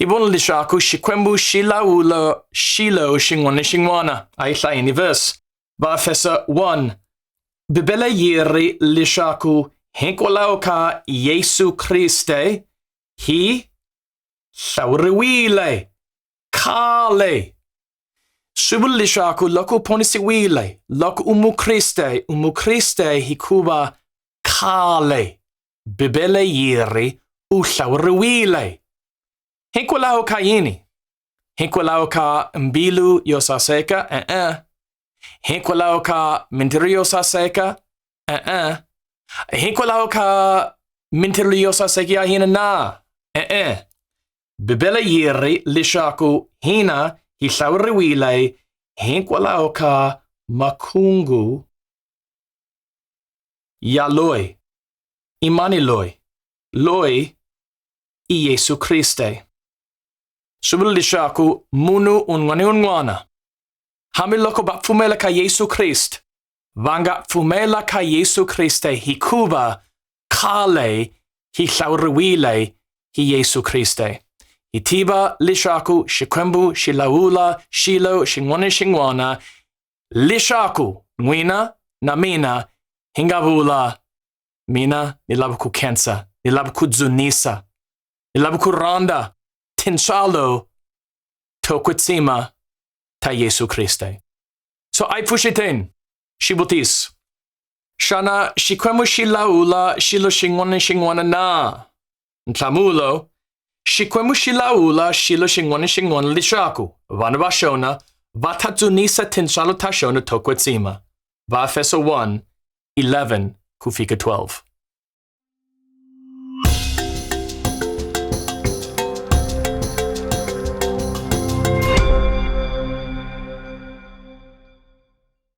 I bwna li shaku shi kwembu shi la u la shi la u shi ngwani shi ngwana. A i hla ini verse. Ba fesa 1. Bibele yiri li shaku hinkwalaho ka Yesu Kriste hi hlawuriwile khale. Swi vula leswaku loko u ponisiwile, loko u mukriste, u mukriste hikuva khale. Bibele yi ri u hlawuriwile. Hikwalaho ka yini? Hikwalaho ka mbilu yo saseka? E-e. Hikwalaho ka mintirho yo saseka? E-e. Hikwalaho ka mintirho yo saseka ya hina na? E-e. Bibele yi ri leswaku hina hi hlawuriwile hikwalaho ka makungu Ia Lui, i mani Lui, Lui i Iesu Kriste. Suvulisha aku munu unwani unwana. Hamiloko ba fumela ka Iesu Kriste. Vanga fumela ka Iesu Kriste hi kuva kale hi hlawuriwile hi Iesu Kriste. Hi tiva leswaku Xikwembu xi lawula xilo xin'wana xin'wana Leswaku n'wina na mina hi nga vula, Mina ni lava ku khensa, ni lava ku dzunisa, ni lava ku rhandza tintswalo to kwetsima ta Yesu Kriste. So a hi pfuxeteni xivutiso. Xana Xikwembu xi lawula xilo xin'wana na xin'wana na? Nhlamulo, Xikwembu xi lawula xilo xin'wana xin'wana leswaku vana va xona va ta dzunisa tintswalo ta xona to kwetsima. Vaefeso 1, 11 ku fika 12.